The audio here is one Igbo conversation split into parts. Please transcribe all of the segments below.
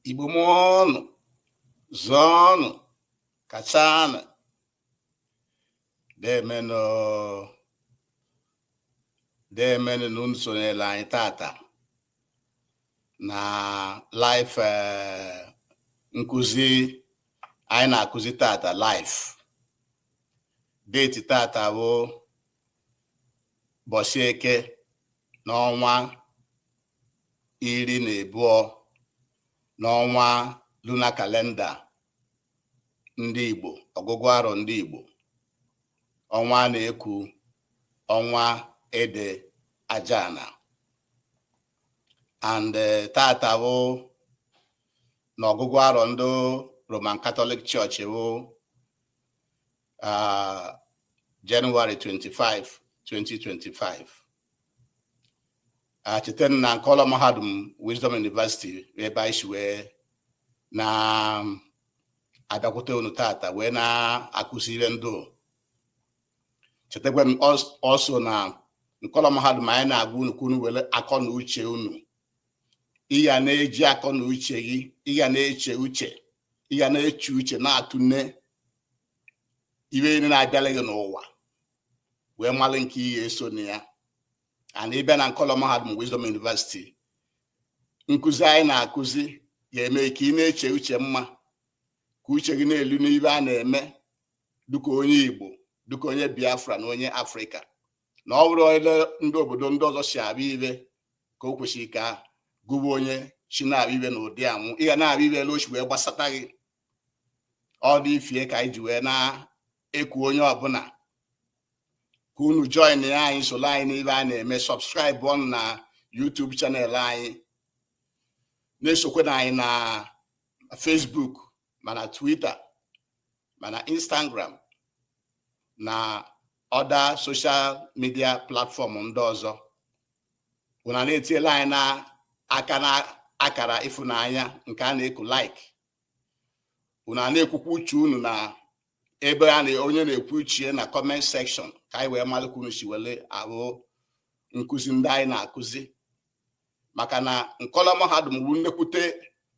igbo mụọnụ zụọnụ kachanụ deemenụ deemenụ na unu sonyere anyị tata na live eh, nkụzi anyị na-akụzi tata live deeti tata bụ ụbọsị eke n'ọnwa iri na abụọ n'ọnwa luna kalenda ndị Igbo ọgụgụ arọ ndị Igbo ọnwa a na-eku ọnwa ede ajana and eh, tata bụ na ọgụgụ arọ ndị Roman Catholic Church bụ ah, January 25 2025 ah chetanụ na nkọlọ mahadum Wisdom University ebe anyị si wee na-abịakwute unu tata wee na-akụzi ibe ndụ chetakwanụ also na nkọlọ mahadum anyị na-agwa unu ka unu were akọ na uche unu ị ya na-eji akọ na uche gị ị ya na-eche uche ị ya na-eche uche na-atụne ibe niile na-abịala gị n'ụwa wee mara nke ị ya-eso na ya and ị bịa na nkọlọ mahadum Wisdom University nkụzi anyị na-akụzi ga-eme ka ị na-eche uche mma ka uche gị na-elu n'ibe a na-eme dịka onye Igbo dịka onye Biafra na onye Afrịka na ọ bụrọ ele ndị obodo ndị ọzọ si abịa ibe ka o kwesịrị ka gụwa onye shi na-abịa ibe na ụdị anwụ ị ga na-abịa ibe ele o shi wee gbasata gị ọ dị ifie ka anyị ji wee na-eku onye ọbụla ka unu joinia anyị soro anyị n'ibe a na-eme subscribeọnụ na YouTube channel anyị na-esokwana anyị na Facebook ma na Twitter ma na Instagram na other social media platform ndị ọzọ unu a na-etiela anyị na aka na akara ịfụnanya nke a na-eku like unu a na-ekwukwa uche unu na ebe a na onye na-ekwu uche na comment section ka anyị wee mara ka unu si were ahụ nkụzi ndị anyị na-akụzi maka na nkọlọ mahadum bụ nnekwute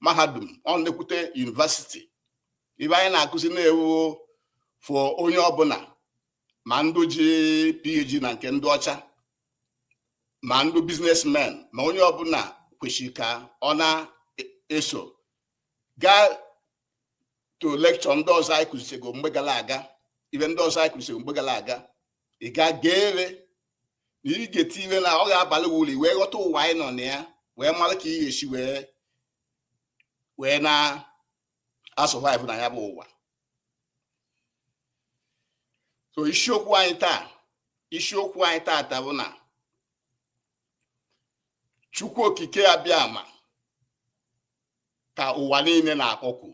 mahadum ọ nnekwute university ibe anyị na-akụzi na-ewu for onye ọbụla ma ndụ ji PhD na nke ndị ọcha ma ndụ businessmen ma onye ọbụla kwesịrị ka ọ na-eso gaa to lecture ndị ọzọ anyị kụzichego mgbe gara aga ife ndị ọzọ anyị kụzichego mgbe gara aga ị ga geere na ị ga-eti ife na ọ ga-abalị uru wee ghọta ụwa anyị nọ na ya wee mara ka ị ga-esi wee na-asurvive na ya bụ ụwa so isiokwu anyị taa isiokwu anyị taata bụ na chukwu okike abịama ka ụwa niile na-akpọku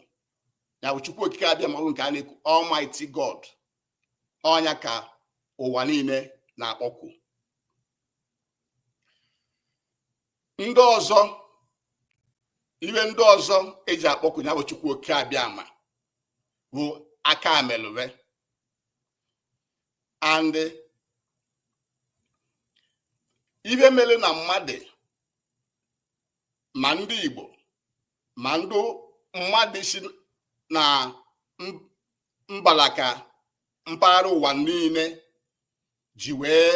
ya bụ chukwu okike abịama bụ nke a na-ekwu almighty god ọ nya ka ụwa niile na-akpọku ndị ọzọ ife ndị ọzọ eji akpọku ya bụ chukwu okike abịama bụ aka amelụwe and ife mere na mmadụ ma ndị Igbo ma ndị mmadụ si na mbalaka mpaghara ụwa niile ji wee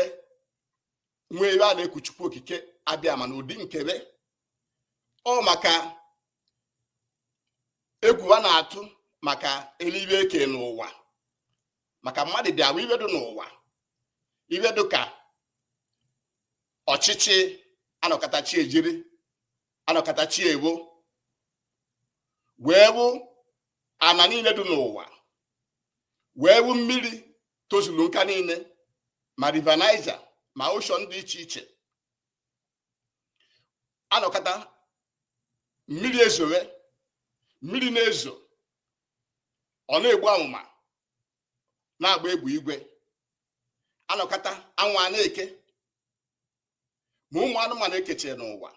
nwee ebe a na-eku chukwu okike abịama n'ụdị nke fa ọ maka egwu a na-atụ maka eluigwe eke n'ụwa maka mmadụ bịa fụ ife dị n'ụwa ife dị ka ọchịchị anọkata chi ejiri anọkata chi efo wee fụ ana niile dị n'ụwa wee fụ mmiri tozuru nka niile ma river Niger ma ocean dị iche iche anọkata mmiri ezowe mmiri na-ezo ọ na-egbu amụma na-agba egbe igwe anọkata anwụ a na-eke ma ụmụ anụmanụ ekeche n'ụwa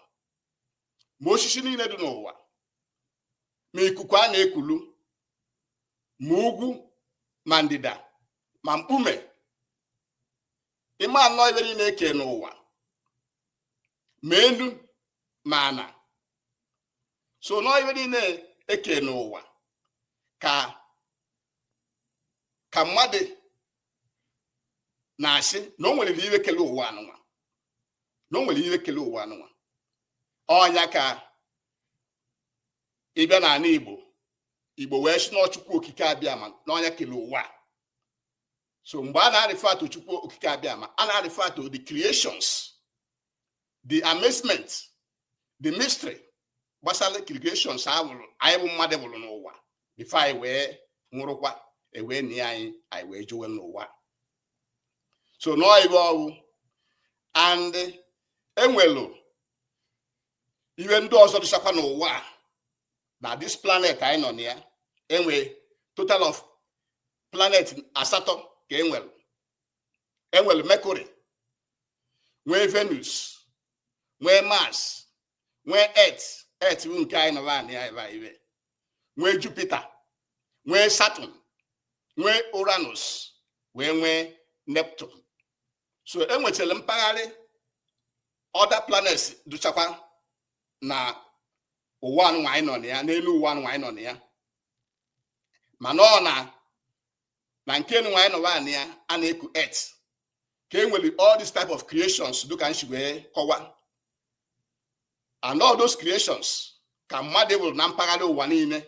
ma osisi niile dị n'ụwa ma ikuku a na-ekulu ma ugwu ma ndịda ma mkpume ịma na ọ ife niile eke n'ụwa ma elu ma ana so na ọ ife niile eke n'ụwa ka ka mmadụ na-asị na o nwere ihe kele ụwa anụnwa na o nwere ihe kele ụwa anụnwa ọ nya ka ịbịa n'ala Igbo Igbo wee sị na ọ chukwu okike abịama na ọ nya kele ụwa so mgbe a na-refer to chukwu okike abịama a na-refer to the creations the amazement the mystery gbasara creations anwụ anyị bụ mmadụ wụrụ n'ụwa before anyị wee nwụrụkwa e wee nie anyị anyị wee jowe n'ụwa so nọọ ive ọ wụ and enwelu ihe ndị ọzọ dịchakwa n'ụwa na this planet anyị nọ na ya enwe total of planet asatọ ka enwere enwere mercury nwee venus nwee mars nwee earth earth bụ nke anyị nọ na ya ebe a nwee jupiter nwee saturn nwee uranus wee nwee neptune so enwechara mpaghara other planets dụchakwa na ụwa anụnwa anyị nọ na ya n'elu ụwa anụnwa anyị nọ na ya mana ọ na na nke nwa anyị nọwa na ya a na-eku earth ka e nwere all these type of creations dịka m shi wee kọwa and all those creations ka mmadụ wụrụ na mpaghara ụwa niile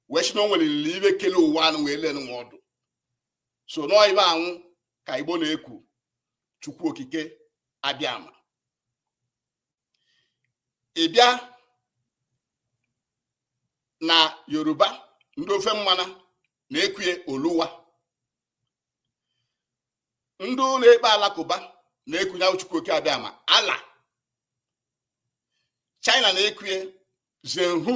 wee si na o nwelili ive kele ụwa anụnwa ele nụnwa ọ dụ so nọọ ive anwụ ka igbo na-ekwu chukwu okike abịama ị bịa na yoruba ndị ofe mmanụ na-ekwue oluwa ndị na-ekpe alakụba na-ekwunye Chukwu oke abịama Allah China na-ekwue Zenhu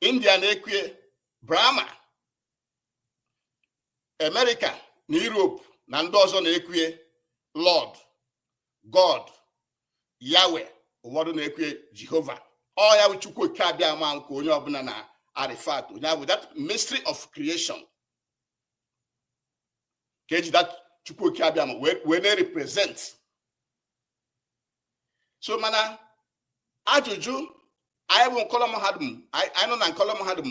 India na-ekwue Brahma America na Europe na ndị ọzọ na-ekwue Lord God Yahweh ụfọdụ na-ekwue Jehovah ọ ya bụ Chukwu oke abịama ahụ ka onye ọbụla na-refer to ọ ya bụ that mystery of creation ka eji that Chukwu oke abịama wee na-represent so mana ajụjụ anyị bụ nkọlọ mahadum anyị nọ na nkọlọ mahadum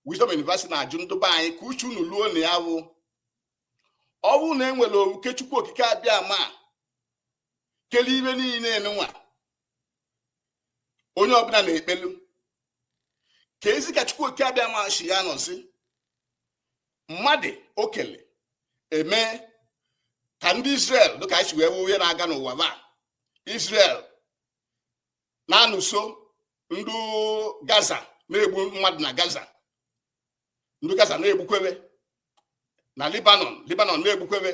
Wisdom University na-ajụ ndị be anyị ka uche unu luo na ya wụ ọ bụrụ na e nwere oke Chukwu okike abịama kele ive niile nwa onye ọbụla na-ekpelu kezi ka Chukwu okike abịama shi anọzi mmadụ ọ kele eme ka ndị Israel dịka anyị si wee wụ ihe na-aga n'ụwa ba Israel na-anụso ndị Gaza na-egbu mmadụ na Gaza ndị Gaza na-egbukwebe na Lebanon Lebanon na-egbukwebe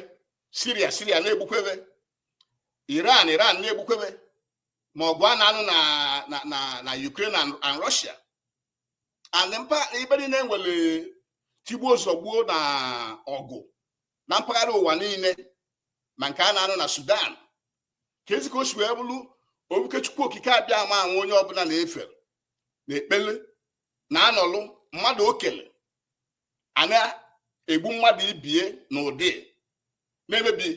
Syria Syria na-egbukwebe Iran Iran na-egbukwebe ma ọgụ a na-anụ na Ukraine and Russia and mpa ibe niile nwere tigbuo zọgbuo na ọgụ na mpaghara ụwa niile ma nke a na-anụ na Sudan kezi ka o si wee bụrụ obuke Chukwu okike abịama anwụ onye ọbụla na-efe na-ekpele na-anọlụ mmadụ o kele a na-egbu mmadụ ibie na ụdị na-emebi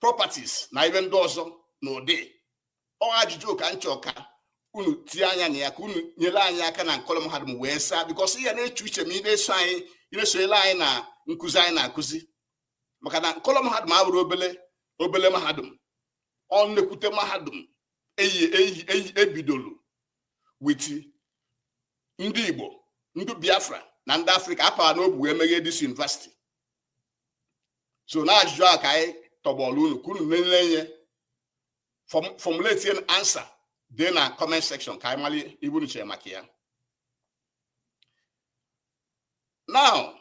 properties na ibe ndị ọzọ na ụdị ọ ajụjụ ka nchọ ka unu tie anya na ya ka unu nyere anyị aka na Nkọlọ mahadum wee saa because ị ya na-eche uche ma ị na-esonyere anyị na nkụzi anyị na-akụzi maka na Nkọlọ mahadum abụrọ obele mahadum ọ nnekwute mahadum e bidolu with ndị Igbo ndị Biafra na ndị Afrịka a pa wa n'obu wee meghee this university so na ajụjụ a ka anyị tọgbọrọ unu ka unu nyele anyị formulate an answer dị na comment section ka anyị mara ibe unu chere maka ya now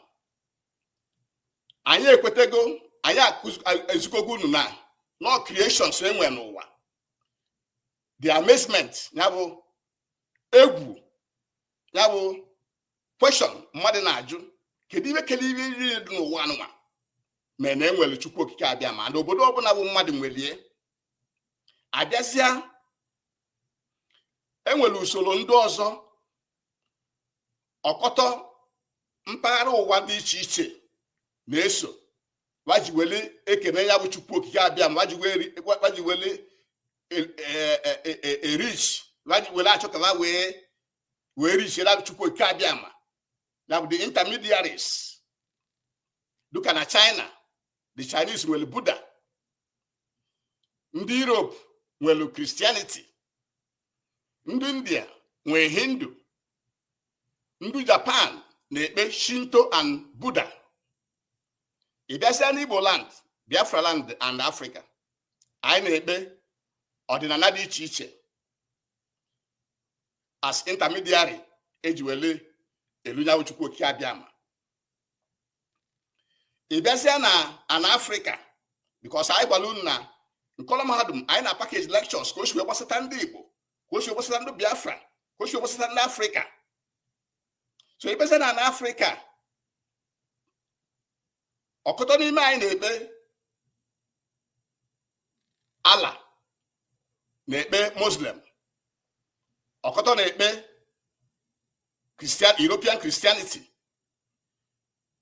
anyị ekwetego anyị ezikọgo unu na no creations e nwe n'ụwa the amazement ya bụ egwu ya bụ question mmadụ na-ajụ kedu ibe kele ibe niile dị n'ụwa anụnwa ma na e nwere chukwu okike abịama and obodo ọbụla bụ mmadụ nwelie a bịazịa e nwere usoro ndị ọzọ ọkọtọ mpaghara ụwa dị iche iche na-eso wa ji wele ekene ya bụ chukwu okike abịama wa ji wele e-reach wa ji wele achọ ka wa wee wee reach-ere chukwu oke abịama ya bụ the intermediaries dụka na china the chinese nwere buddha ndị europe nwere christianity ndị india nwere hindu ndị japan na-ekpe shinto and buddha ị bịazịa n'igbo land biafra land and africa anyị na-ekpe ọdịnala dị iche iche as intermediary e ji wele elu nya wụ chukwu okike abịama ị bịazịa na ana afrịka because anyị gwara unu na Nkọlọ mahadum anyị na package lectures ka o si wee gbasata ndị igbo ka o si wee gbasata ndị biafra ka o si wee gbasata ndị afrịka so ị bịazịa na ana afrịka ọkụtọ n'ime anyị na-ekpe allah na-ekpe muslim ọkụtọ na-ekpe christian european christianity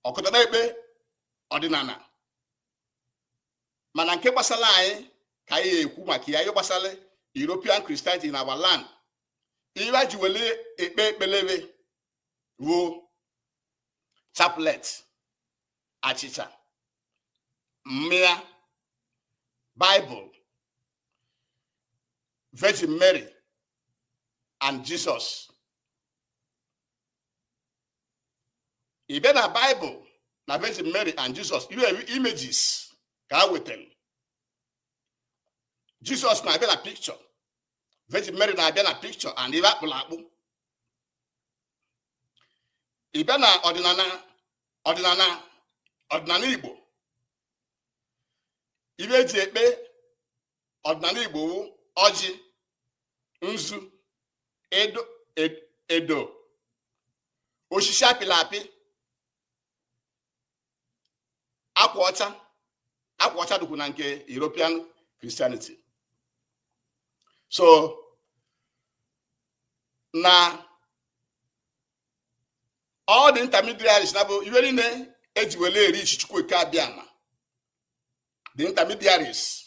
ọkụtọ na-ekpe ọdịnana mana nke gbasara anyị ka anyị ekwu maka ya ihe gbasara european christianity na our land ihe wa ji wele ekpe ekpele be wụ chaplet achịcha mmịa bible virgin mary and jesus ị bịa na bible na virgin mary and jesus ihe images ka a wetara jesus na-abịa na picture Virgin Mary na-abịa na picture and ive a kpụlụ akpụ ị bịa na ọdịnana ọdịnana ọdịnana Igbo ive e ji ekpe ọdịnana Igbo wụ ọjị nzu edo edo osisi a pịlị apị akwa ọcha akwa ọcha dịkwu na nke European Christianity so na all the intermediaries na bụ ive niile e ji wele e-reach Chukwu Okike Abịama the intermediaries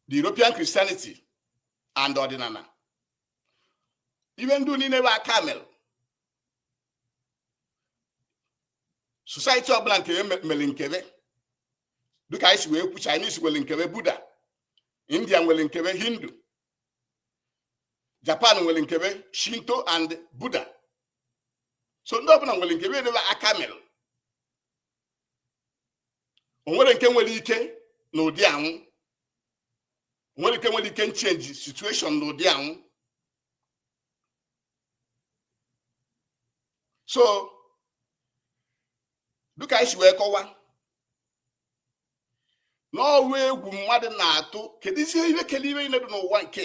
the European Christianity and ọdịnana ive ndị niile bụ aka mele society ọbụna mere nke be dịka anyị si wee kwu Chinese nwere nke be Buddha India nwere nke be Hindu Japan nwere nke be Shinto and Buddha so ndị ọbụla nwere nke be edebe aka mere o nwere nke nwere ike n'ụdị ọnwụ nwere ike nwere ike change situation n'ụdị ọnwụ so dịka anyị si wee kọwa na ọ wụ egwu mmadụ na-atụ keduzi ihe kele ihe niile dị n'ụwa nke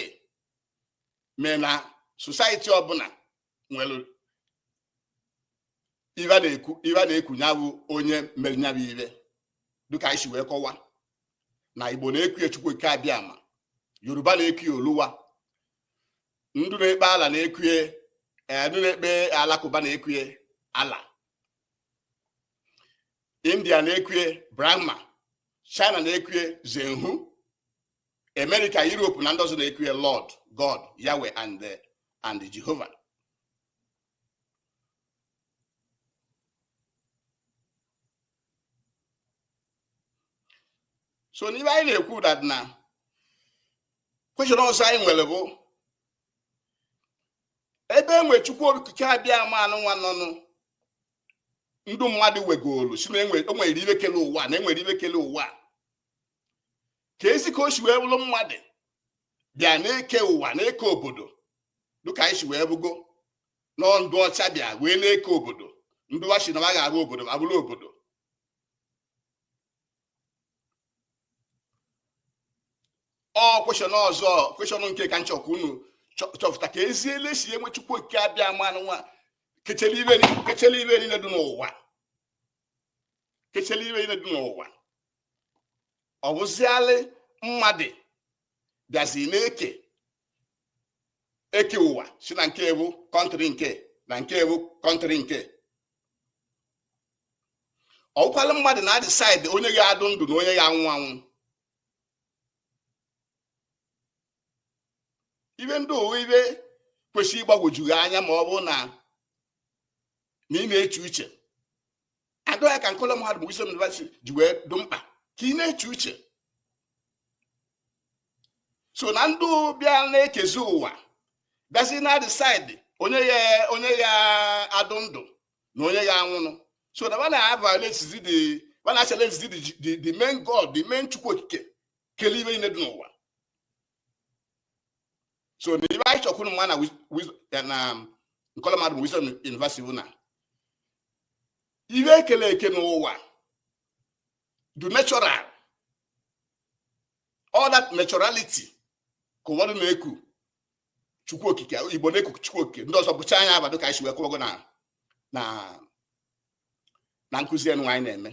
mee na society ọbụna nwere ive a na-ekwu ya bụ onye mere ya bụ ive dịka anyị si wee kọwa na igbo na-eku ya chukwu okike abịama yoruba na-eku ya oluwa ndụ na-ekpe ala na-ekwue eh, ndụ na-ekpe alakụba na-ekwue allah india na-ekwue brahma china na-ekwue zenhu america europe na ndị ọzọ na-ekwue lord god yahweh and eh, jehova so n'ihe anyị na-ekwu that na question ọzọ anyị nwere bụ ebe enwe chukwu okike abiama anụnwa nọnụ ndụ mmadụ wegolu si na e e nwere ihe kele ụwa na enwere ihe kele ụwa kezi ka o si wee bụrụ mmadụ bịa na-eke ụwa na-eke obodo dịka anyị si wee hụgo na ndị ọcha bịa wee na-eke obodo ndị wa sị na ha ga-arụ obodo ma bụrụ obodo ọ question ọzọ question nke ka m chọ ka unu chọpụta kezi elesi enwe chukwu okike abiama anụnwa kechele ihe niile dị n'ụwa kechele ihe niile dị n'ụwa ọ bụzialị mmadụ bịazi na-eke eke ụwa si na nke a wụ country nke na nke a wụ country nke ọ wụkwalụ mmadụ na decide onye ya adụ ndụ na onye ya anwụ anwụ ihe ndị a wụ ihe kwesịrị ịgbagwoju anya ma ọ bụ na na ị na-eche uche and ọ ya ka nkọlọ mahadum Wisdom University ji wee dụ mkpa ka ị na-eche uche so na ndị bịa na-ekezi ụwa bịazi na decide onye ya onye ya adụ ndụ na onye ya anwụ anwụ so na wa na violate the wa na challenge the the main god the main chukwu okike kele ihe niile dị n'ụwa so na ihe anyị chọ ka unu ma na nkọlọ mahadum wisdom university bụ na ihe ekele eke n'ụwa dụ natural all that naturality ka ụfọdụ na-eku chukwu okike igbo na-eku chukwu okike ndị ọzọ bụcha anya abadụ ka anyị si wee kọwago na na na nkụzi anụnwa anyị na-eme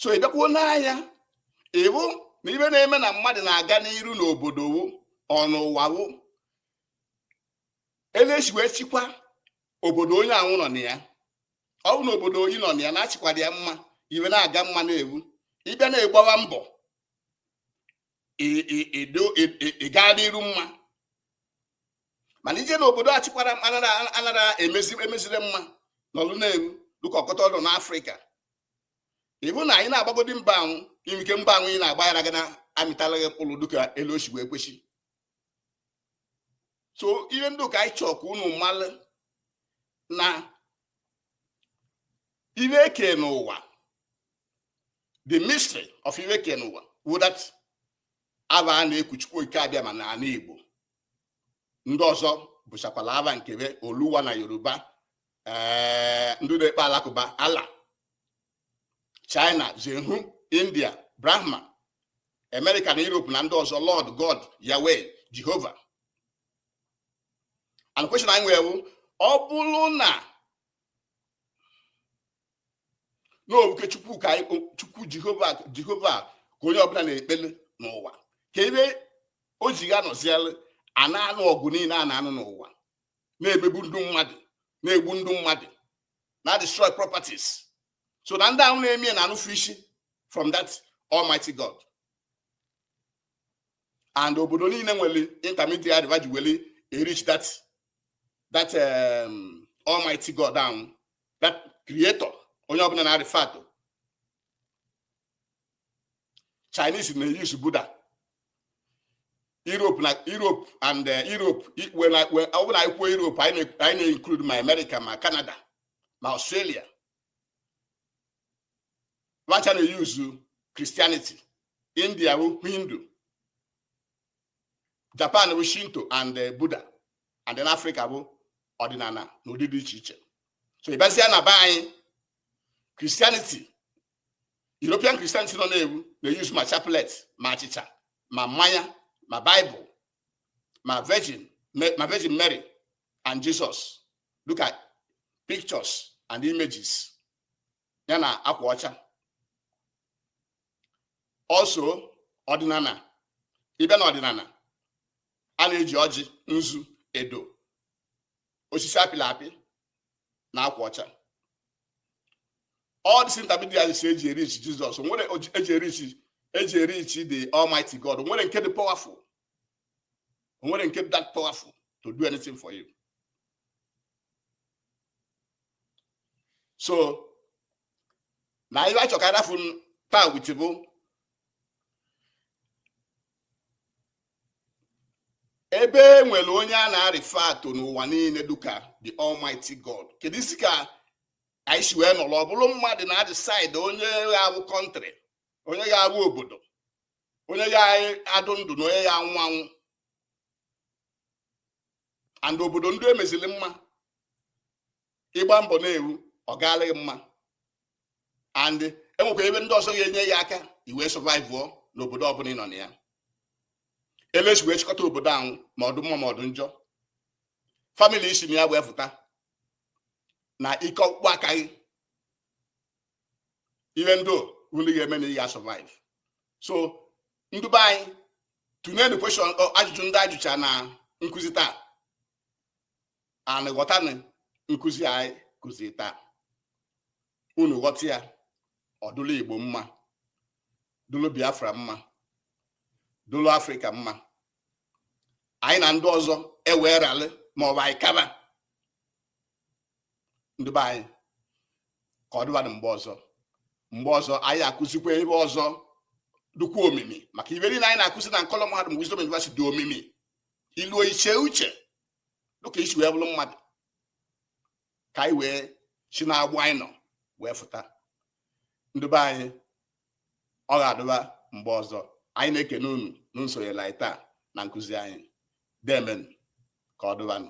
so ị bịakwuo n'anya ị hụ na ihe na-eme na mmadụ na-aga n'iru n'obodo wụ ọnụụwa wụ elesi wee chịkwa obodo onye ahụ nọ na ya ọ bụ na obodo onye nọ na ya na-achịkwara ya mma ihe na-aga mma na-ewu ị bịa na-agbawa mbọ ịga n'iru mma mana i je na obodo achịkwara anara emezi emezire mma n'ọlụ na-eru dịka ọkọta ọdụ n'afrịka ị hụ na ị na-agbagodi mbọ ahụ ike mbọ ahụ ị na-agba agaghị na-amịtala gị mkpụrụ dịka etu o si bụ ekwesị so ihe ndị ka anyị chọọ ka unu malụ na ihe kelu ụwa the mystery of ihe kelu ụwa wụ that afa a na-eku chukwu okike abịama n'ala igbo ndị ọzọ bụchakwala afa nke fa oluwa na yoruba eh, ndị na-ekpe alakụba allah china zenhu india brahma amerịka na europe na ndị ọzọ lord god yahweh jehovah and question anyị nwere wụ ọ bụrụ na n'obuke chukwu ka chukwu jehovah jehovah ka onye ọbụla na-ekpele n'ụwa kee ihe o ji ga nọziere a na-anụ ọgụ niile a na-anụ n'ụwa na-emegbu ndị mmadụ na-egbu ndị mmadụ na-destroy properties sị na ndị ahụ na-eme ya na-anụfu isi from that almighty god and obodo niile nwere intermediary fa ji were reach that that um, almighty god ahụ that creator onye ọbụla na-refer to chinese na-use buddha europe na europe and eh, europe ọ bụ na anyị kwuo europe anyị na-include ma america ma canada ma australia wa ncha na-use christianity india hindu Japan bụ Shinto and eh, Buddha and then Africa bụ ọdịnala na ụdị dị iche iche so ị bịazie na be anyị Christianity European Christianity nọ na-ewu na-use ma chaplet ma achịcha ma mmanya ma Bible ma Virgin ma Virgin Mary and Jesus dịka pictures and images ya na akwa ọcha also ọdịnala ị bịa na ọdịnala a na-eji ọjị nzu edo osisi apịla apị na akwa ọcha all these intermediaries eji reach Jesus were eji reach the Almighty God o nwere nke dị powerful o nwere nke dị that powerful to do anything for you so na ibe achọ ka adafu taa which bụ ebe e nwere onye a na-refer to n'ụwa niile duka the almighty god kedu isi ka anyị si wee nọrọ ọ bụrụ mmadụ na-decide onye ga-abụ country onye ga-abụ obodo onye ga-adụ ndụ na onye ga-anwụ anwụ and obodo ndị e mezili mma ịgba mbọ na-ewu ọ gaala gị mma and enwekwa ibe ndị ọzọ ga-enye ya aka i wee survive n'obodo ọbụla ị nọ na ya elesi wee chịkọta obodo ahụ ma ọdụ mma ma ọdụ njọ family i si na ya wee fụta na ike ọkpụkpụ aka gị ihe ndị ndị ga-eme na ị ga-survive so ndị be anyị tụnyenụ question ajụjụ ndị ajụcha na nkụzi taa and ghọtanụ nkụzi anyị kụzi taa unu ghọta ya ọ dụlụ igbo mma dụlụ biafra mma dụlụ africa mma anyị na ndị ọzọ ewee ralị ma ọ bụ anyị kaba ndị be anyị ka ọ dịbadụ mgbe ọzọ mgbe ọzọ anyị akụzikwa ibe ọzọ dụkwa omimi maka ibe niile anyị na-akụzi na nkọlọ mahadum Wisdom University dị omimi iluo iche uche dịka i si wee bụrụ mmadụ ka anyị wee si n'agbụ anyị nọ wee fụta ndụ be anyị ọ ga-adụba mgbe ọzọ anyị na-ekene unu na unu sonyela anyị taa na nkụzi anyị deemenụ ka ọ dụbanụ